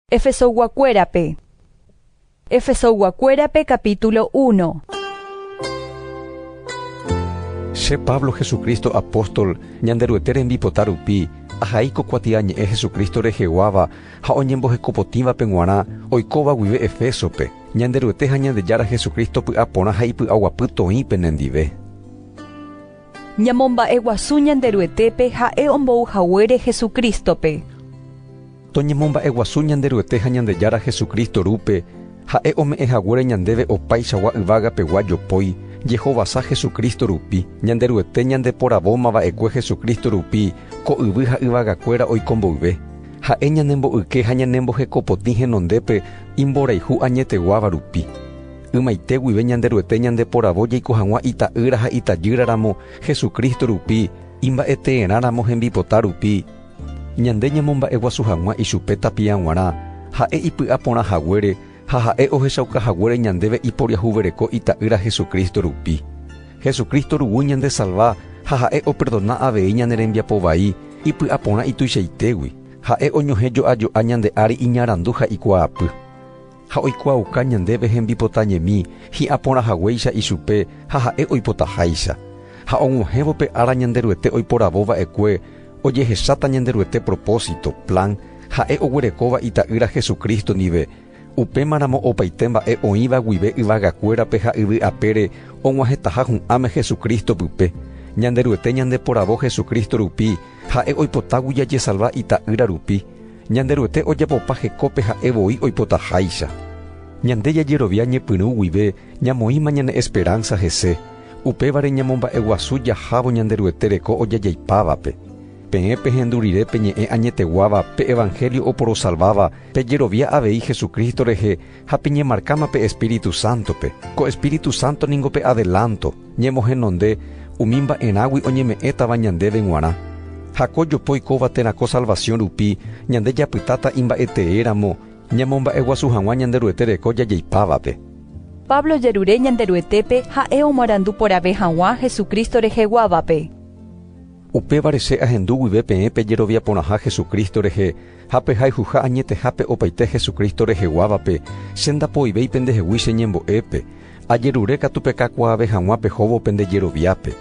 Efesoyguakuérape Efesoyguakuérape capítulo uno. Che Pablo Jesucristo apóstol Ñanderuete rembipota rupi, ahai ko kuatia ñe'ẽ Jesucristo reheguáva ha oñembohekopotĩvape g̃uarã oikóva guive Efésope, Ñanderuete ha Ñandejára Jesucristo py'aporã ha ipy'aguapy toĩ penendive. Ñamomba'eguasu Ñanderuetépe ha'e ombou haguére Jesucristo-pe. Toñemomba'eguasu Ñanderuete ha Ñandejára Jesucristo rúpe, ha'e ome'ẽ haguére ñandéve opaichagua yvagapegua jopói, jehovasa Jesucristo rupi. Ñanderuete ñandeporavóma va'ekue Jesucristo rupi ko yvy ha yvagakuéra oiko mboyve. Ha'e ñanembo'yke ha ñanembohekopotĩ henondépe imborayhu añeteguáva rupi. Ymaite guive Ñanderuete ñandeporavo jaiko hag̃ua Ita'ýra ha Itajýra ramo, Jesucristo rupi, imba'eteerã ramo hembipota rupi. Ñande ñamomba'eguasu hag̃ua ichupe tapia g̃uarã, ha'e ipy'a porã haguére ha ha'e ohechauka haguére ñandéve iporiahuvereko Ita'ýra Jesucristo rupi. Jesucristo ruguy ñandesalva ha ha'e operdona avei ñane rembiapo vai ipy'a porã ituichaitégui, ha'e oñohẽ jo'a jo'a ñande ári iñarandu ha ikuaapy. ha oikuaauka ñandéve hembipota ñemi hi'ã porã haguéicha ichupe ha ha'e oipotaháicha, ha og̃uahẽvo pe ára Ñanderuete oiporavo va'ekue ojehecháta Ñanderuete propósito, plan, ha'e oguerekóva Ita'ýra Jesucristo ndive, upémaramo opaite mba'e oĩva guive yvagakuérape ha yvy apére og̃uahẽtaha hu'ãme Jesucristo pype, Ñanderuete ñandeporavo Jesucristo rupi ha'e oipotágui jajesalva Ita'ýra rupi, Ñanderuete ojapopa hekópe ha'e voi oipotaháicha. Ñande jajerovia ñepyrũ guive ñamoĩma ñane esperánsa hese, upévare ñamomba'eguasu jahávo Ñanderuete reko ojajaipávape. Peẽ pehendu rire pe ñe'ẽ añeteguáva pe evanhélio oporosalváva pejerovia avei Jesucristo rehe Ha peñemarkáma pe Espíritu Sántope. Ko Espíritu Sánto ningo pe adelánto, ñemohenonde umi mba'erãgui oñeme'ẽtava ñandéve g̃uarã. Ha ko jopo oikóva térã ko salvasiõ rupi, ñande japytáta imba'eteéramo ñamomba'eguasu hag̃ua Ñanderuete reko jajeipávape. Pablo jerure Ñanderuetépe ha'e omarandu porãve hag̃ua Jesucristo reheguávape. Upévare che ahendu guive peẽ pejerovia porãha Jesucristo rehe, Ha pe hayhuha añetehápe opaite Jesucristo reheguávape, che ndapoivéi pendehegui che ñembo'épe, ajerure katu pekakuaave hag̃ua pehóvo pende jeroviápe.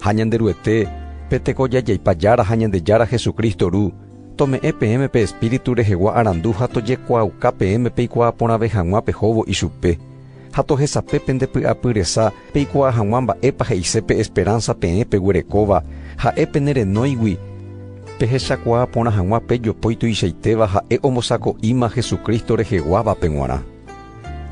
Ha Ñanderuete, pe tekojajaipa Jára ha Ñandejára Jesucristo Ru, tome'ẽ peẽme pe Espíritu rehegua arandu ha tojekuaauka peẽme peikuaa porãve hag̃ua pehóvo ichupe. Ha tohesape pende py'apy resa peikuaa hag̃ua mba'épa he'ise pe esperánsa peẽ peguerekóva, ha'e pene renóigui. Pehechakuaa porã hag̃ua pe jopói tuichaitéva ha'e ombosako'íma Jesucristo reheguávape g̃uarã.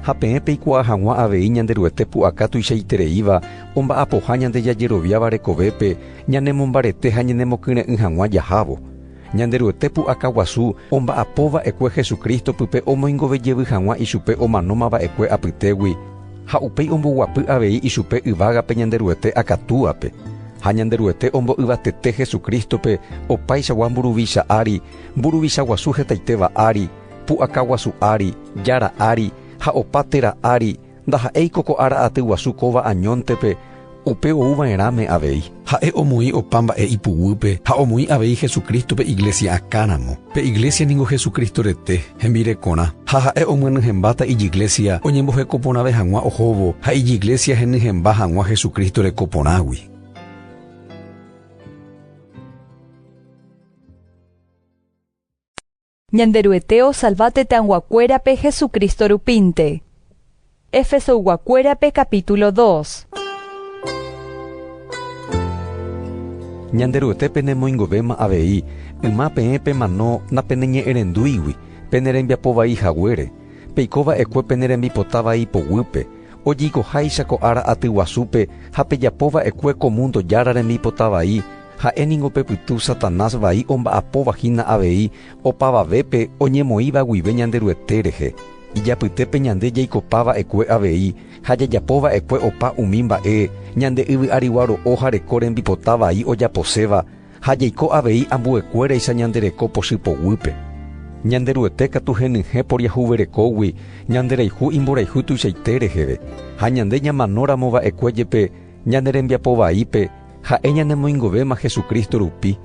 Ha peẽ peikuaa hag̃ua avei Ñanderuete pu'aka tuichaitereíva omba'apoha ñande jajeroviáva rekovépe ñanemombarete ha ñanemokyre'ỹ hag̃ua jahávo. Ñanderuete pu'aka guasu omba'apo va'ekue Jesucristo pype omoingove jevy hag̃ua ichupe omanóma va'ekue apytégui, ha upéi omboguapy avei ichupe yvágape Ñanderuete akatúape. Ha Ñanderuete ombo'yvatete Jesucristo-pe opaichagua mburuvicha ári, mburuvicha guasu hetaitéva ári, pu'aka guasu ári, jára ári, ha opa téra ári, Ndaha'éiko ko ára aty guasu kóva añóntepe upe ou va'erãme avei. Ha'e omoĩ opa mba'e ipuguýpe ha omoĩ avei Jesucristo-pe iglesia akãramo. Pe iglesia ningo Jesucristo rete, hembirekorã. Ha ha'e omyenyhẽmbáta ijiglesia oñemboheko porãve hag̃ua ohóvo ha ijiglesia henyhẽmba hag̃ua Jesucristo reko porãgui. Ñanderuete osalva tetãyguakuérape Jesucristo rupínte. Efesoyguakuérape capítulo dos. Ñanderuete penemoingovéma avei, yma peẽ pemano napeneñe'ẽrendúigui, pene rembiapo vai haguére, peiko va'ekue pene rembipota vai poguýpe, ojeikoháicha ko ára aty guasúpe ha pejapo va'ekue ko mundo jára rembipota vai, Ha'e ningo pe pytu Satanás vai omba'apóva hína avei opavavépe oñemoĩva guive Ñanderuete rehe, ijapytépe ñande jaikopa va'ekue avei ha jajapo va'ekue opa umi mba'e ñande yvy'arigua ro'o ha reko rembipota vai ojaposéva ha jaiko avei ambuekuéraicha ñande reko pochy poguýpe. Ñanderuete katu henyhẽ poriahuverekógui ñanderayhu imborayhu tuichaite reheve, ha ñande ñamanóramo va'ekue jepe, Ñane rembiapo vaípe ha'e ñanemoingovéma Jesucristo rupi,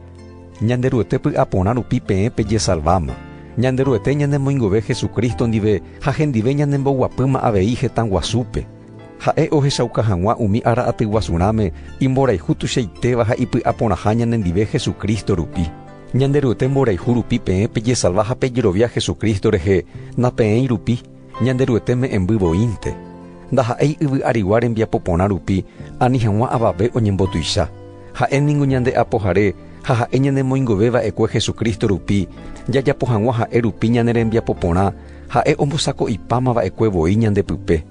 Ñanderuete py'aporã rupi peẽ pejesalváma. Ñanderuete ñanemoingove Jesucristo ndive ha hendive ñanemboguapýma avei hetã guasúpe. Ha'e ohechauka hag̃ua umi ára atyguasu rãme imborayhu tuichaitéva ha ipy'aporãha ñanendive Jesucristo rupi. Ñanderuete mborayhu rupi peẽ pejesalva ha pejerovia Jesucristo rehe, napeẽi rupi. Ñanderuete me'ẽmby voínte, ndaha'éi yvy arigua rembiapo porã rupi ani hag̃ua avave oñembotuicha. Ha'e ningo ñande Apohare ha ha'e ñanemoingove va'ekue Jesucristo rupi, jajapo hag̃ua ha'e rupi ñane rembiapo porã, ha'e ombosako'ipáma va'ekue voi ñande pype.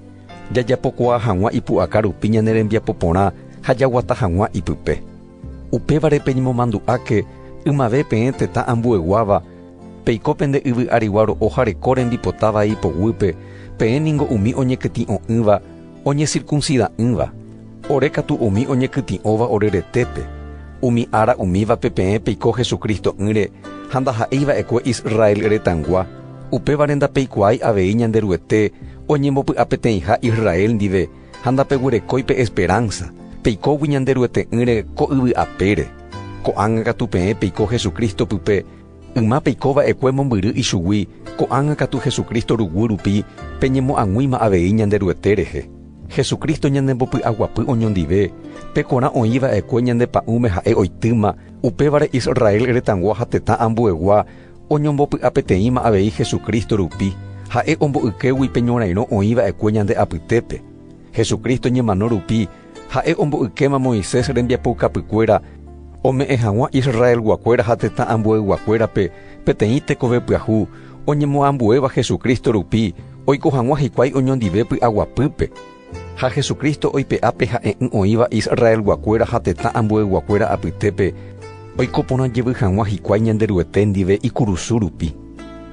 Jajapokuaa hag̃ua ipu'aka rupi ñane rembiapo porã ha jaguata hag̃ua ipype. Upévare peñemomandu'áke ymave peẽ tetã ambueguáva, peiko pende yvy arigua ro'o jareko rembipota vai ipoguýpe, peẽ ningo umi oñekytĩ'o'ỹva oñesirkunsida'ỹva, ore katu umi oñekytĩ'óva ore retépe. Umi ára umívape peẽ peiko Hesu Cristo'ỹre ha ndaha'éi va'ekue Israel retãgua, upévare ndapeikuaái avei Ñanderuete oñembopy'apeteĩha Israel ndive, ha ndapeguerekói pe esperánsa, peikógui Ñanderuete'ỹre ko yvy apére. Ko'ág̃a katu peẽ peiko Jesucristo pype, yma peiko va'ekue mombyry ichugui, ko'ág̃a katu Jesucristo ruguy rupi peñemoag̃uíma avei Ñanderuete rehe. Jesucristo ñanembopy'aguapy oñondive, pe korã oĩ va'ekue ñande pa'ũme ha'e oitýma, upévare Israel retãgua ha tetã ambuegua, Oñombopy'apeteĩma avei Jesucristo rupi, ha'e ombo'ykégui pe ñorairõ oĩ va'ekue ñande apytépe. Jesucristo ñemano rupi, ha'e ombo'ykéma Moisés rembiapoukapykuéra ome'ẽ hag̃ua Israelguakuéra ha tetã ambueyguakuérape peteĩ tekove pyahu oñemoambuéva Jesucristo rupi oiko hag̃ua hikuái oñondive py'aguapýpe. Ha Jesucristo oipe'a pe ha'e'ỹ oĩva Israelguakuéra ha tetã ambueyguakuéra apytépe oiko porã jevy hag̃ua hikuái Ñanderuete ndive ikurusu rupi.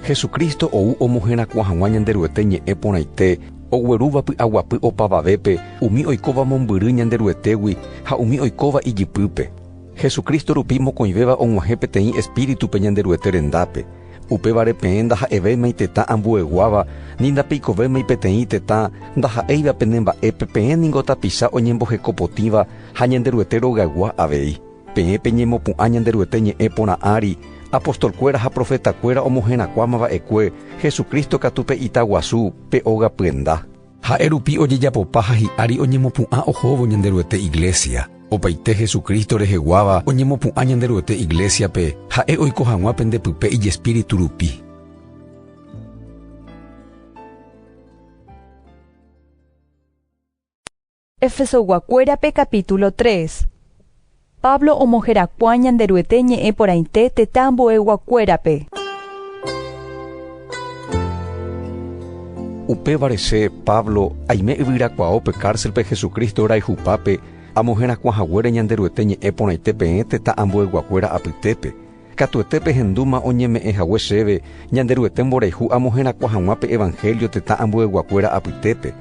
Jesucristo ou omoherakuã hag̃ua Ñanderuete ñe'ẽ porãite oguerúva py'aguapy opavavépe umi oikóva mombyry Ñanderuetégui ha umi oikóva ijypýpe. Jesucristo rupi mokõivéva og̃uahẽ peteĩ Espíritu pe Ñanderuete rendápe. Upévare peẽ ndaha'evéimai tetã ambueguáva, ni ndapeikovéimai peteĩ tetã ndaha'éiva pene mba'épe peẽ ningo tapicha oñembohekopotĩva ha Ñanderuete rogaygua avei. Peẽ peñemopu'ã Ñanderuete ñe'ẽ porã ári, apostolkuéra ha profetakuéra omoherakuãma va'ekue, Jesucristo katu pe ita guasu, pe óga pyenda. Ha'e rupi ojejapopa ha hi'ári oñemopu'ã ohóvo Ñanderuete iglésia. Opaite Jesucristo reheguáva oñemopu'ã Ñanderuete iglésiape, ha'e oiko hag̃ua pende pype ijespíritu rupi. Efesoguakuérape capítulo tres. Pablo omoherakuã Ñanderuete ñe'ẽ porãite tetã ambueyguakuérape. Upévare che, Pablo, aime yvyrakuaáo pe kárselpe Jesucristo rayhupápe, amoherakuã haguére Ñanderuete ñe'ẽ porãite peẽ tetã ambueyguakuéra apytépe, Katuete pehendúma oñeme'ẽ hague chéve Ñanderuete mborayhu amoherakuã hag̃ua pe evangelio tetã ambueyguakuéra apytépe.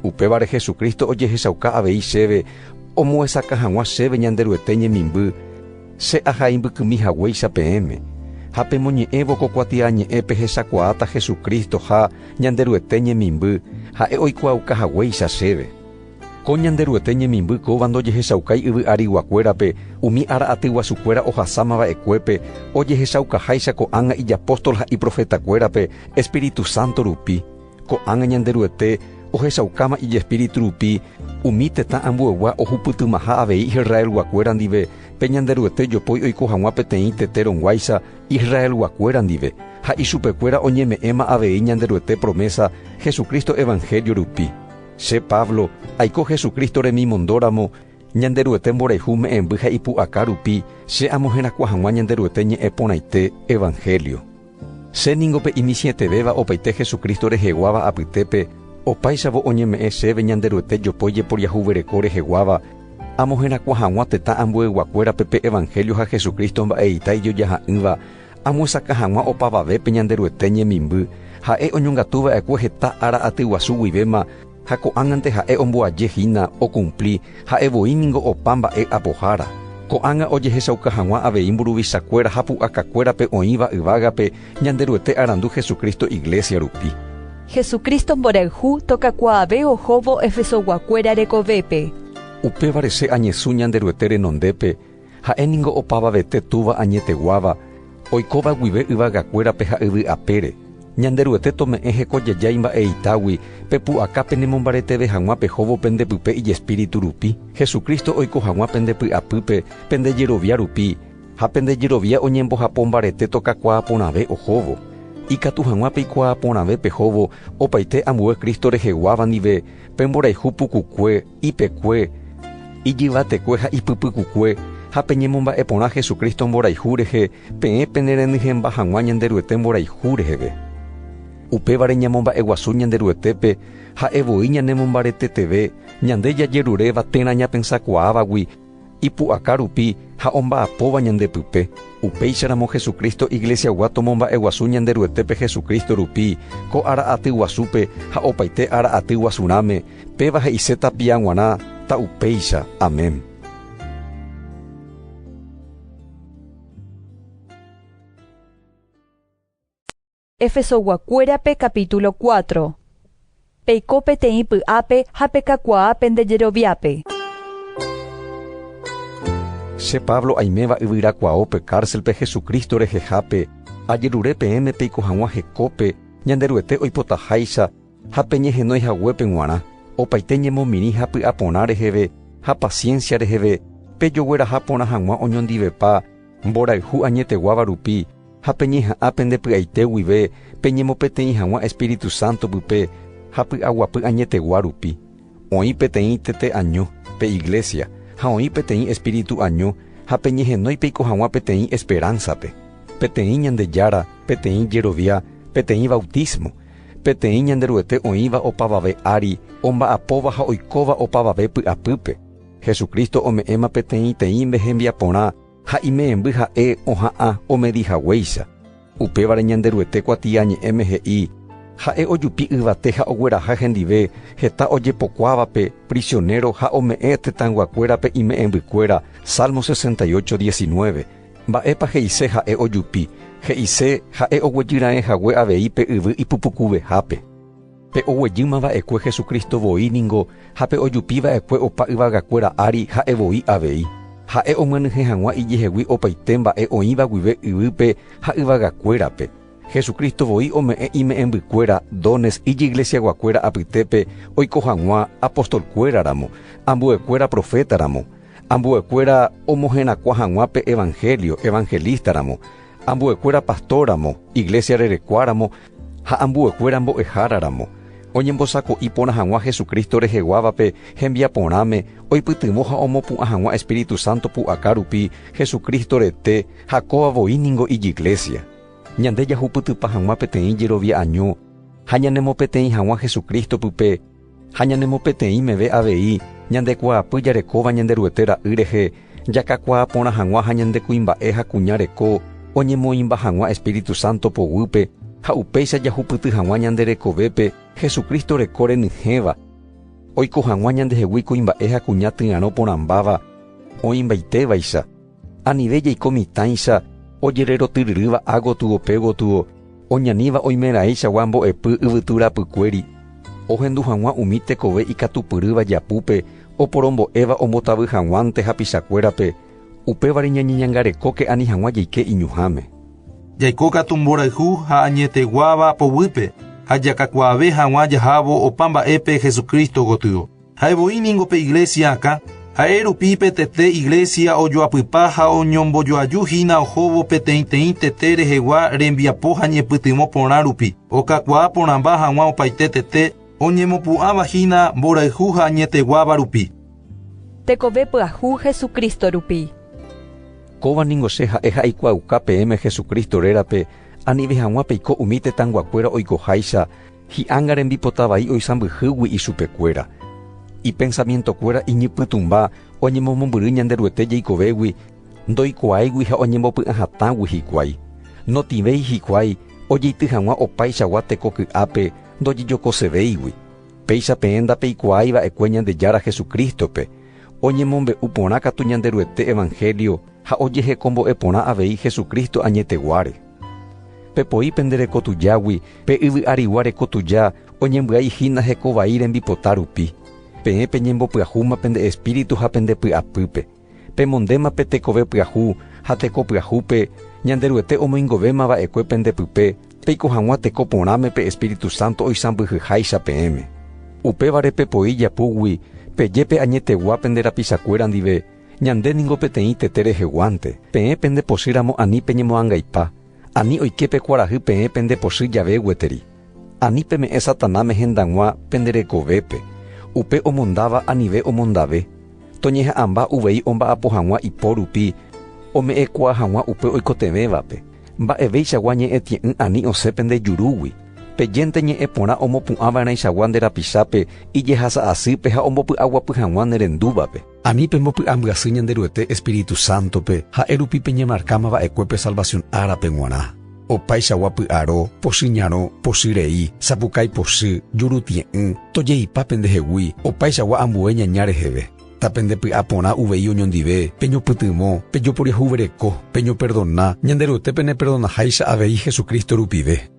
Upévare Jesucristo ojehechauka avei chéve omoesakã hag̃ua chéve Ñanderuete ñemimby, che aha imbykymi haguéicha peẽme. Ha pemoñe'ẽvo ko kuatiañe'ẽ pehechakuaáta Jesucristo ha Ñanderuete ñemimby, ha'e oikuaauka haguéicha chéve. Ko Ñanderuete ñemimby kóva ndojehechaukái yvy ariguakuérape umi ára atyguasukuéra ohasáma va'ekuépe, ojehechaukaháicha ko'ág̃a ijapóstol ha iprofetakuérape espíritu sánto rupi. Ko'ág̃a Ñanderuete ohechaukáma ijespíritu rupi umi tetã ambueygua ohupytymaha avei Israelguakuéra ndive pe Ñanderuete jopói oiko hag̃ua peteĩ tete rõguáicha Israelguakuéra ndive, ha ichupekuéra oñeme'ẽma avei Ñanderuete promésa Jesucristo evanhélio rupi. Che Pablo, aiko Jesucristo remimondóramo, Ñanderuete mborayhu me'ẽmby ha ipu'aka rupi, che amoherakuã hag̃ua Ñanderuete ñe'ẽ porãite, evangelio. Che ningo pe imisiẽtevéva opaite Jesucristo reheguáva apytépe, opáichavo oñeme'ẽ chéve Ñanderuete jopói jeporiahuvereko reheguáva, amoherakuã hag̃ua tetã ambueyguakuérape pe evangelio ha Jesucristo mba'eita ijojaha'ỹva, Amyesakã hag̃ua opavavépe Ñanderuete ñemimby, ha'e oñongatu va'ekue heta ára aty guasu guivéma ha ko'ág̃ante ha'e omboaje hína okumpli ha'e voi ningo opa mba'e apohára. Ko'ág̃a ojehechauka hag̃ua avei mburuvichakuéra ha pu'akakuérape oĩva yvágape Ñanderuete arandu Jesucristo iglésia rupi. Jesucristo mborayhu tokakuaave ohóvo Efesoguakuéra rekovépe. Upévare che añesũ Ñanderuete renondépe, Ha'e ningo opavavete Túva añeteguáva, oikóva guive yvagakuérape ha yvy apére. Ñanderuete tome'ẽ hekojeja imba'eitágui, pe pu'aka penemombareteve hag̃ua pehóvo pende pype ijespíritu rupi, Jesucristo oiko hag̃ua pende py'apýpe, pende jerovia rupi, ha pende jerovia oñembohapo mbarete tokakuaa porãve ohóvo. Ikatu hag̃ua peikuaa porãve pehóvo opaite ambue Cristo reheguáva ndive, pe mborayhu pukukue, ipekue, ijyvatekue ha ipypykukue, ha peñemomba'e porã Jesucristo mborayhu rehe, peẽ penerenyhẽmba hag̃ua Ñanderuete mborayhu reheve. Upévare ñamomba'eguasu Ñanderuetépe ha'e voi ñanemombareteteve, ñande jajeruréva térã ñapensakuaávagui, ipu'aka rupi ha omba'apóva ñande pype, upéicharamo Jesucristo Iglesiagua tomomba'eguasu Ñanderuetépe Jesucristo rupi ko ára aty guasúpe ha opaite ára aty guasurãme, péva he'ise tapia g̃uarã, ta upéicha. Amén. Efesoguakuérape capítulo cuatro. Peiko peteĩ py'ápe ha pekakuaa pende jeroviápe. Che Pablo aiméva yvyrakuaópe kárselpe Jesucristo rehehápe, ajerure peẽme peiko hag̃ua hekópe Ñanderuete oipotaháicha ha peñehenói haguépe g̃uarã, opaite ñemomirĩ ha py'aporã reheve ha paciencia reheve, pejogueraha porã hag̃ua oñondivepa, Mborayhu añeteguáva rupi ha peñeha'ã pende py'aite guive peñemopeteĩ hag̃ua Espíritu Santo pype ha py'aguapy añetegua rupi. Oĩ peteĩ tete año, pe iglesia, ha oĩ peteĩ espíritu año ha peñehenói peiko hag̃ua peteĩ esperánsape, peteĩ Ñandejára, peteĩ jerovia, peteĩ bautismo, peteĩ Ñanderuete oĩva opavave ári, omba'apóva ha oikóva opavave py'apýpe. Jesucristo ome'ẽma peteĩteĩnde hembiaporã ha imemby ha'e oha'ã omedi haguéicha. Upévare Ñanderuete kuatiañe'ẽme he'i, Ha'e ojupi yvate ha ogueraha hendive heta ojepokuávape prisionero ha ome'ẽ tetãyguakuérape ime'ẽmbykuéra, Salmo 68, 19. Mba'épa he'ise ha'e ojupi? He'ise ha'e oguejy raẽ hague avei pe yvy ipupukuvehápe. Pe oguejýma va'ekue Jesucristo voi ningo ha pe ojupi va'ekue opa yvagakuéra ári ha'e voi avei. Ha'e omyenyhẽ hag̃ua ijehegui opaite mba'e oĩva guive yvýpe ha yvagakuérape. Jesucristo voi ome'ẽ ime'ẽmbykuéra, dones, ijiglesiaguakuéra apytépe oiko hag̃ua apostolkuéra ramo, ambuekuéra profeta ramo, ambuekuéra omoherakuã hag̃ua pe evangelio, evangelista ramo, ambuekuéra pastor ramo, iglesia rerekua ramo, ha ambuekuéra mbo'ehára ramo, oñembosako'i porã hag̃ua Jesucristo reheguávape hembiaporãme oipytyvõ ha omopu'ã hag̃ua Espíritu Santo pu'aka rupi Jesucristo rete ha kóva voi ningo ijiglésia. Ñande jahupytypa hag̃ua peteĩ jerovia'año ha ñanemopeteĩ hag̃ua Jesucristo-pype, Ha ñanemopeteĩ meve avei ñande kuaapy jarekóva Ñanderuete ra'y rehe, jakakuaa porã hag̃ua ha ñande kuimba'e ha kuña reko oñemoĩmba hag̃ua Espíritu Santo poguýpe, ha upéicha jahupyty hag̃ua ñande rekovépe Jesucristo reko renyhẽva, oiko hag̃ua ñandehegui kuimba'e ha kuña tyarõ porãmbáva oĩmbaite vaicha. Anive jaiko mitãicha ojererotyryrýva ha gotygope gotygo oñaníva oimeraẽichagua mbo'epy yvytu rapykuéri, ohendu hag̃ua umi tekove ikatupyrýva japúpe oporombo'éva ombotavy hag̃uánte hapichakuérape, upévare ñañeñangarekóke ani hag̃ua jaike iñuhãme. Jaiko katu mborayhu ha añeteguáva poguýpe ha jakakuaave hag̃ua jahávo opa mba'épe Jesucristo gotyo. Ha'e voi ningo pe iglésia akã, ha'e rupi pe tete iglésia ojoapypa ha oñombojoaju hína ohóvo peteĩteĩ tete rehegua rembiapo ha ñepytyvõ porã rupi, okakuaa porãmba hag̃ua opaite tete oñemopu'ãva hína mborayhu ha añeteguáva rupi. Tekove pyahu Jesucristo rupi. Kóva ningo che ha'e ha aikuaauka peẽme Jesucristo rérape, anive hag̃ua peiko umi tetãnguakuéra oikoháicha, Hi'anga rembipota vai oisãmbyhýgui ichupekuéra. Ipensamientokuéra iñypytũmba oñemomombyry Ñanderuete jeikovégui, ndoikuaáigui ha oñembopy'ã hatãgui hikuái. Notĩvéi hikuái ojeity hag̃ua opaichagua teko ky'ápe ndojejokosevéigui. Péicha peẽ ndapeikuaái va'ekue Ñandejára Jesucristo-pe, oñemombe'u porã katu Ñanderuete evangelio ha ojehekombo'e porã avei Jesucristo añeteguáre. Pepoi pende reko tujágui, pe yvy arigua reko tuja oñembyai hína heko vai rembipota rupi. Peẽ peñembopyahúma pende espíritu ha pende py'apýpe. Pemondéma pe tekove pyahu ha teko pyahúpe Ñanderuete omoingovéma va'ekue pende pype peiko hag̃ua teko porãme pe espíritu sánto oisãmbyhyháicha peẽme. Upévare pepoi japúgui peje pe añetegua pende rapichakuéra ndive, Ñande ningo peteĩ tete reheguánte, peẽ pende pochy ramo ani peñemoangaipa, ani oike pe kuarahy peẽ pende pochy jave gueteri. Ani peme'ẽ Satanáme hendag̃ua pende rekovépe, upe omondáva anive omondave, toñeha'ãmba uvei omba'apo hag̃ua ipo rupi ome'ẽkuaa hag̃ua upe oikotevẽvape, mba'evéichagua ñe'ẽtie'ỹ ani osẽ pende jurúgui, pejénte ñe'ẽ porã omopu'ãva'erãichagua nde rapichápe ijehasa asýpe ha ombopy'aguapy hag̃ua ne rendúvape. Ani pembopy'ambyasy Ñanderuete espíritu sántope, ha'e rupi peñemarkáma va'ekue pe salvasión árape g̃uarã. Opaichagua py'aro, pochy ñarõ, pochy rei, sapukái pochy, jurutie'ỹ, tojeipa pendehegui, opaichagua ambue ñaña reheve. Ta pendepy'a porã uvei oñondive, peñopytyvõ, pejoporiahuvereko, peñoperdona, Ñanderuete peneperdonaháicha avei Jesucristo rupive.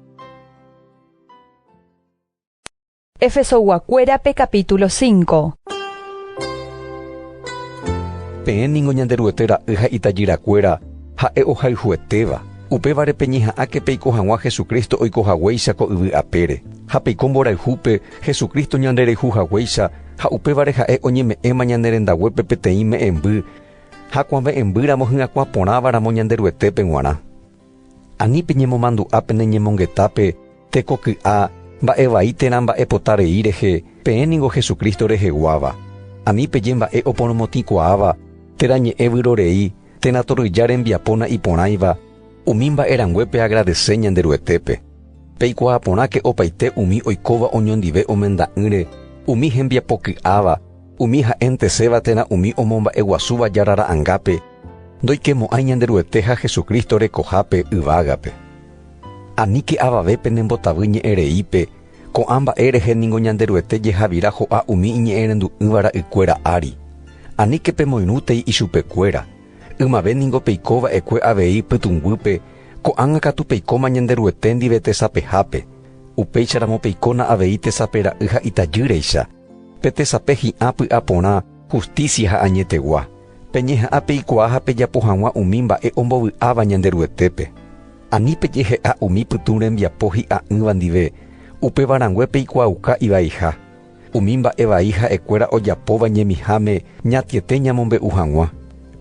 Efesogua-kuérape capítulo 5. Peẽ ningo Ñanderuete ra'y ha itajyrakuéra ha'e ohayhuetéva. Upévare peñeha'ãke peiko hag̃ua Jesucristo oiko haguéicha ko yvy apére, ha peiko mborayhúpe Jesucristo ñandereju haguéicha ha upévare ha'e oñeme'ẽma ñane rendaguépe peteĩ me'ẽmby ha kuave'ẽmbýramo hyakuã porãva ramo Ñanderuetépe g̃uarã. Ani peñemomandu'a pene ñemongetápe tekoky'a mba'e vai térã mba'epota rei rehe, peẽ ningo Jesucristo reheguáva. Ani peje mba'e oporomotĩkuaáva térã ñe'ẽ vyrorei térã torrýja rembiapóna iporãiva, umi mba'e rangue peagradese Ñanderuetépe. Peikuaa porãke opaite umi oikóva oñondive omenda'ỹre, umi hembiapoky'áva, umi ha'enteséva térã umi omomba'eguasúva Jára Ra'angápe, Ndoikemo'ãi Ñanderuete ha Jesucristo rekohápe yvágape. Aníke avave penembotavy ñe'ẽreípe, ko'ã mba'e rehe ningo Ñanderuete jehavira ho'a umi iñe'ẽrendu'ỹva ra'ykuéra ári. Aníke pemoirũtei ichupekuéra, ymave ningo peiko va'ekue avei pytũnguýpe, ko'ág̃a katu peikóma Ñanderuete ndive tesapehápe, upéicharamo peikóna avei tesape ra'y ha itajýreicha, pe tesape hi'ã py'aporã, hustísia ha añetegua. Peñeha'ã peikuaa ha pejapo hag̃ua umi mba'e ombovy'áva Ñanderuetépe. Ani pejehe'a umi pytũ rembiapo hi'a'ỹva ndive, upéva rangue peikuaauka ivaiha. Umi mba'e vai ha'ekuéra ojapóva ñemiháme ñatiete ñamombe'u hag̃ua.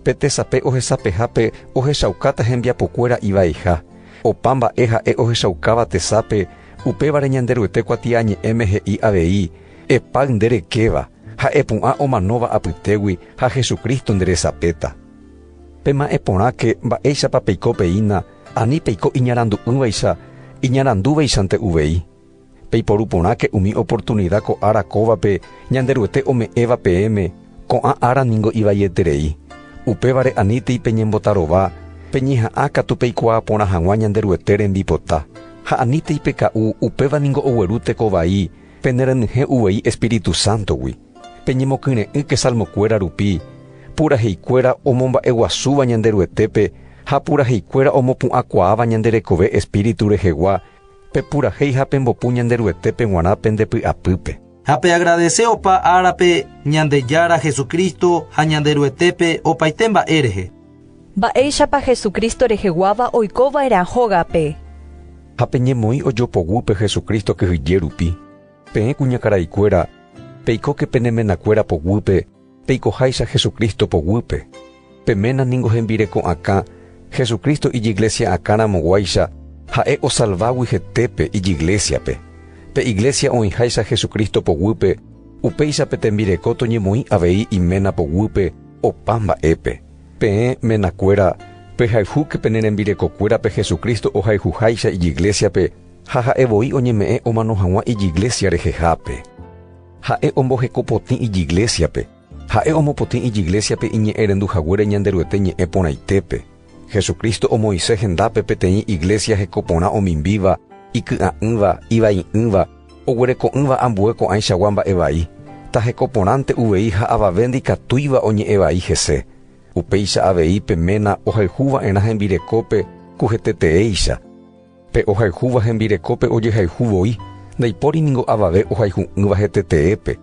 Pe tesape ohesapehápe ohechaukáta hembiapokuéra ivaiha. Opa mba'e ha'e ohechaukáva tesape, upévare Ñanderuete kuatiañe'ẽme he'i avei, Epáy nde rekéva, Ha'e pu'ã omanóva apytégui ha Jesucristo nderesapéta. Pema'ẽ porãke mba'éichapa peiko peína ani peiko iñarandu'ỹvaicha iñarandúvaichante uvei. Peiporu porãke umi oportunida ko ára kóvape Ñanderuete ome'ẽva peẽme, ko'ã ára ningo ivaieterei. Upévare anítei peñembotarova peñeha'ã katu peikuaa porã hag̃ua Ñanderuete rembipota. Ha anítei peka'u, upéva ningo ogueru teko vai, Penerenyhẽ uvei Espíritu Sántogui, peñemokyre'ỹke salmokuéra rupi, puraheikuéra omomba'eguasúva Ñanderuetépe ha puraheikuéra omopu'ãkuaáva ñande rekove Espíritu rehegua, pepurahéi ha pembopu Ñanderuetépe g̃uarã pende py'apýpe. Ha peagradese opa árape Ñandejára Jesucristo ha Ñanderuetépe opaite mba'e rehe. Mba'éichapa Jesucristo reheguáva oiko va'erã hógape? Ha peñemoĩ ojopoguýpe Jesucristo kyhyje rupi, peẽ kuñakaraikuéra, peikóke pene menakuéra poguýpe peikoháicha Jesucristo poguýpe. Pe ména ningo hembireko'akã Jesucristo ijiglesia'akã ramoguáicha ha'e osalvágui hetépe ijiglesiape. Pe iglesia oĩháicha Jesucristo poguýpe, upéicha pe tembireko toñemoĩ avei iména poguýpe Opa mba'épe, peẽ menakuéra pehayhúke pene rembirekokuérape Jesucristo ohayhuháicha ijiglésiape ha ha'e voi oñeme'ẽ omano hag̃ua ijiglésia rehehápe. Ha'e omboheko potĩ ijiglésiape, ha'e omopotĩ ijiglésiape iñe'ẽrendu haguére Ñanderuete ñe'ẽ porãitépe. Jesucristo omoĩse hendápe peteĩ iglesia heko porã omimbíva, iky'a'ỹva, ivai'ỹva, oguereko'ỹva ambue ko'ãichagua mba'e vai, ta heko porãnte uvei ha avave ndikatúiva oñe'ẽ vai hese. Upéicha avei pe ména ohayhu va'erã hembirekópe ku heteteéicha. Pe ohayhúva hembirekópe ojehayhu voi, ndaipóri ningo avave ohayhu'ỹva heteteépe,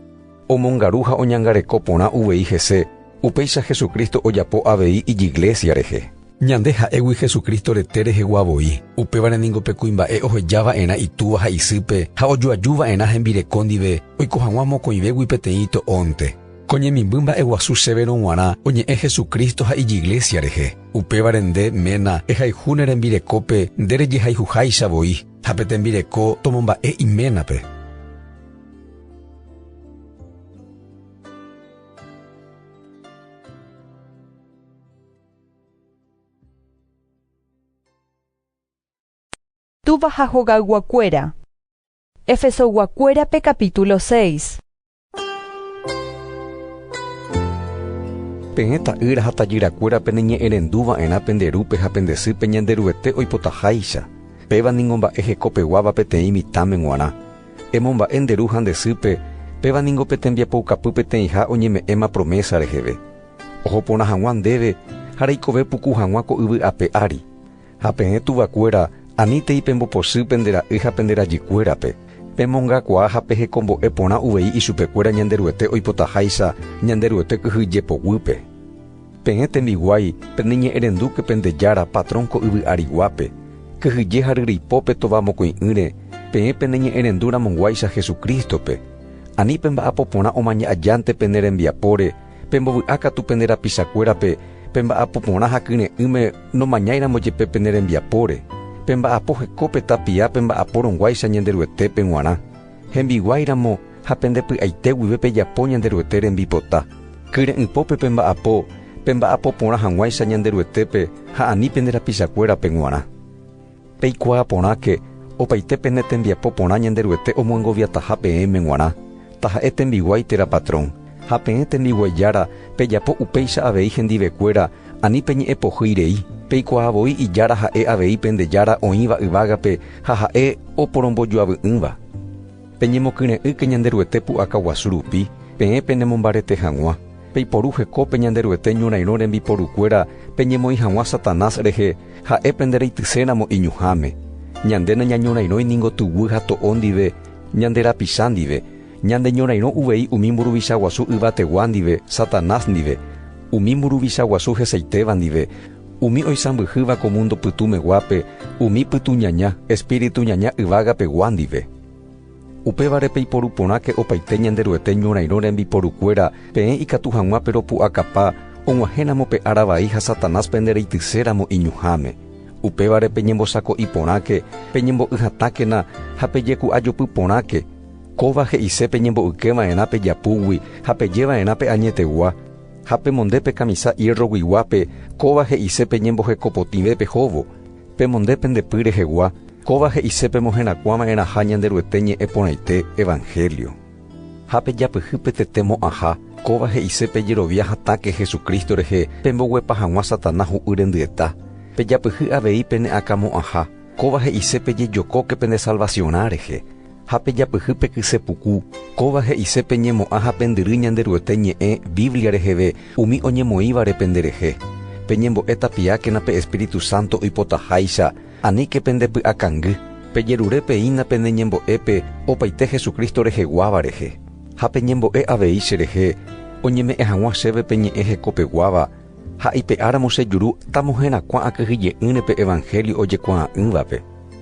omongaru ha oñangareko porã uvei hese, upéicha Jesucristo ojapo avei ijiglésia rehe. Ñande ha'égui Jesucristo rete rehegua voi, upévare ningo pe kuimba'e oheja va'erã itúva ha isýpe ha ojoaju va'erã hembireko ndive oiko hag̃ua mokõivégui peteĩ ito'ónte. Ko ñemimby mba'eguasu sévero g̃uarã oñe'ẽ Jesucristo ha Ijiglesia rehe. Upévare nde, ména, ehayhu ne rembirekópe nde rejehayhuháicha voi, ha pe tembireko tomomba'e iménape. Túva ha hogayguakuéra. Efesoyguakuérape capítulo seis. Peẽ ta'ýra ha tajyrakuéra peneñe'ẽrendu va'erã pende rúpe ha pende sýpe Ñanderuete oipotaháicha, péva ningo mba'e hekopeguáva peteĩ mitãme g̃uarã. Emomba'e nde ru ha nde sýpe, péva ningo pe tembiapoukapy peteĩha oñeme'ẽma promésa reheve. Oho porã hag̃ua ndéve ha reikove puku hag̃ua ko yvy ape ári. Ha peẽ tuvakuéra, anítei pembopochy pende ra'y ha pende rajykuérape, pemongakuaa ha pehekombo'e porã uvei ichupekuéra Ñanderuete oipotaháicha Ñanderuete kyhy jepoguýpe. Peẽ tembiguái, peneñe'ẽrendúke pende Jára, patrón ko yvy ariguápe, kyhyje ha ryrypo pe tova mokõi'ỹre, peẽ peneñe'ẽrendu ramonguáicha Jesucristo-pe, ani pemba'apo porã omaña ajánte pene rembiapóre, Pembovy'a katu pende rapichakuérape pe mba'apo porã ha kyre'ỹme nomañáiramo jepe pene rembiapóre. Pemba'apo heko pe tapia pemba'apórõguáicha Ñanderuetépe g̃uarã, hembiguáiramo ha pende py'aite guive pejapo Ñanderuete rembipota. Kyre'ỹpópe pemba'apo pemba'apo porã hag̃uáicha Ñanderuetépe ha ani pende rapichakuérape g̃uarã. Peikuaa porãke opaite pene tembiapo porã Ñanderuete omoengoviataha peẽme g̃uarã, taha'e tembiguái térã patrón, ha peẽ tembiguái jára pejapo upéicha avei hendivekuéra ani peñe'ẽpohýi rei, peikuaa voi ijára ha'e avei pende Jára oĩva yvágape ha ha'e oporombojoavy'ỹva. Peñemokyre'ỹke Ñanderuete pu'aka guasu rupi, peẽ penemombarete hag̃ua. Peiporu hekópe Ñanderuete ñorairõ rembiporukuéra peñemoĩ hag̃ua Satanás rehe, ha'e pende reityséramo iñuhãme. Ñande nañañorairõi ningo tuguy ha to'o ndive, ñande rapicha ndive. Ñandeñorairõ uvei umi mburuvicha guasu yvategua ndive, Satanás ndive, umi mburuvicha guasu hesaitéva ndive, Umi oisãmbyhýva ko múndo pytu meguápe umi pytuñaña, espíritu ñaña yvágape gua ndive. Upévare peiporu porãke opaite Ñanderuete ñorairõ rembiporukuéra peẽ ikatu hag̃uápe ropu'akapa og̃uahẽramo pe ára vai ha Satanás pende reityséramo iñuhãme. Upévare peñembosako'i porãke, peñembo'y hatãkena ha pejeku'ajopy porãke. Kóva he'ise peñembo'yke va'erã pe japúgui ha peje va'erã pe añetegua. Ha pemonde pe kamisa ierroguiguápe kóva he'ise pe ñemboheko potĩve pehóvo, pemonde pende py rehegua kóva he'ise pemoherakuã va'erãha Ñanderuete ñe'ẽ porãite, evanhélio. Ha pejapyhy pe tete mo'ãha kóva he'ise pejerovia hatãke Jesucristo rehe pemboguepa hag̃ua Satanás hu'y rendyeta, pejapyhy avei pene akã mo'ãha kóva he'ise pejejokóke pende salvaciorã rehe, ha pejapyhy pe kyse puku, kóva he'ise peñemo'ã ha pendyry Ñanderuete ñe'ẽ Biblia reheve umi oñemoĩvare penderehe. Peñembo'e tapiákena pe espíritu sánto oipotaháicha, aníke pende py'akangy. Pejerure peína pene ñembo'épe opaite Jesucristo reheguáva rehe, ha peñembo'e avei cherehe oñeme'ẽ hag̃ua chéve pe ñe'ẽ hekopeguáva ha ipe'áramo chejuru tamoherakuã akyhyje'ỹre pe evangelio ojekuaa'ỹvape.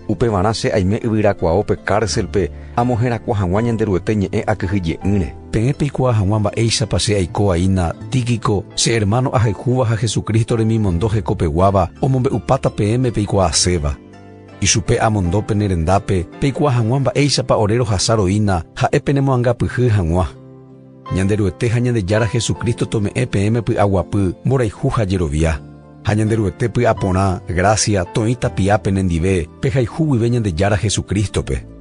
Upevarã che aime yvyrakuaópe kárselpe amoherakuã hag̃ua Ñanderuete ñe'ẽ akyhyje'ỹre. Peẽ peikuaa hag̃ua mba'éichapa che aikoaína Tíquico, che ermáno ahayhúva ha Jesucristo remimondo hekopeguáva omombe'upáta peẽme peikuaaséva. Ichupe amondo pene rendápe peikuaa hag̃ua mba'éichapa ore rohasa roína ha'e penemoangapyhy hag̃ua. Ñanderuete ha Ñandejára Jesucristo tome'ẽ peẽme py'aguapy, mborayhu ha jerovia. Ha Ñanderuete py'aporã, grásia, toĩ tapia pene ndive, pehayhu guive Ñandejára Jesucristo-pe.